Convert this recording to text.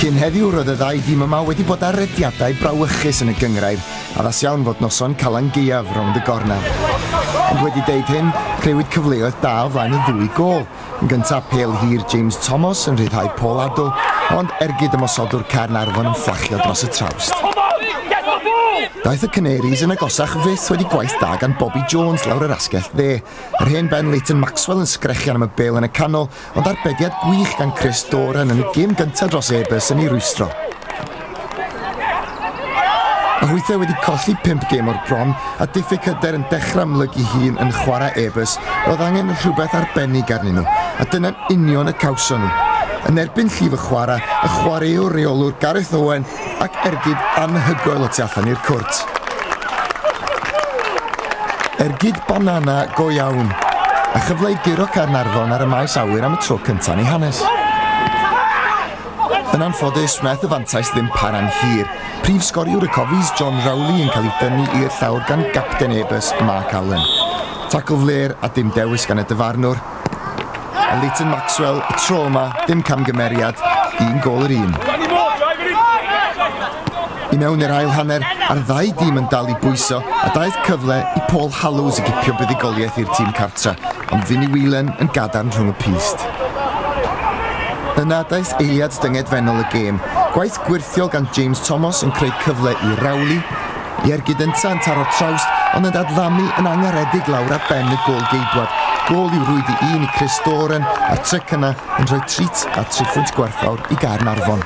Cyn heddiw roedd y ddau dîm yma wedi bod ar rediadau brawychus yn y gyngrair, addas iawn fod noson Calan Gaeaf rownd y gornel. Ond wedi deud hyn, creuwyd cyfleoedd da o flaen y ddwy gol. Yn gyntaf, pel hir James Thomas yn rhyddhau Paul Addo, ond ergyd ymosodwr Caernarfon yn fflachio dros y trawst. Daeth y Canaries yn agosach fyth wedi gwaith da gan Bobby Jones lawr yr asgell dde, Yr hen ben Leighton Maxwell yn sgrechian am y bêl yn y canol, ond arbediad gwych gan Chris Doran yn y gêm gyntaf dros Ebers yn ei rwystro. Mae Hwythe wedi colli 5 gêm o'r bron a diffyg hyder yn dechrau amlygu hun yn chwarae Ebers roedd angen rhywbeth arbennig arnyn nhw a dyna'n union y cawson nhw. Yn erbyn llif y chwarae, y chwaraewr reolwr Gareth Owen ac ergyd anhygoel y tu allan i'r cwrt. Ergyd banana go iawn, a chyfle i guro Caernarfon ar y maes awyr am y tro cyntaf yn ei hanes. Yn anffodus, wnaeth y fantais ddim para'n hir. Prif sgoriwr y Cofis, John Rowley, yn cael ei dynnu i'r llawr gan gapten Ebus, Mark Allen. Tacl fler a dim dewis gan y dyfarnwr, Leighton Maxwell y tro yma, dim camgymeriad, un gol yr un. I mewn i'r ail hanner, a'r ddau dîm yn dal i bwyso, a daeth cyfle i Paul Hallows i gipio buddigoliaeth i'r tîm cartra, ond Vinny Whelan yn gadarn rhwng y pyst. Yna daeth eiliad dyngedfennol y gêm, gwaith gwyrthiol gan James Thomas yn creu cyfle i Rowley, I'r gydyntant ar y trawst, ond yn dadlamu yn angaredig lawr ar ben y gôl geidwad. Gôl i'w rwyd i un i Chris Doran, a'r tryc yna yn rhoi trit a thriphwynt gwerthfawr i Gaernarfon.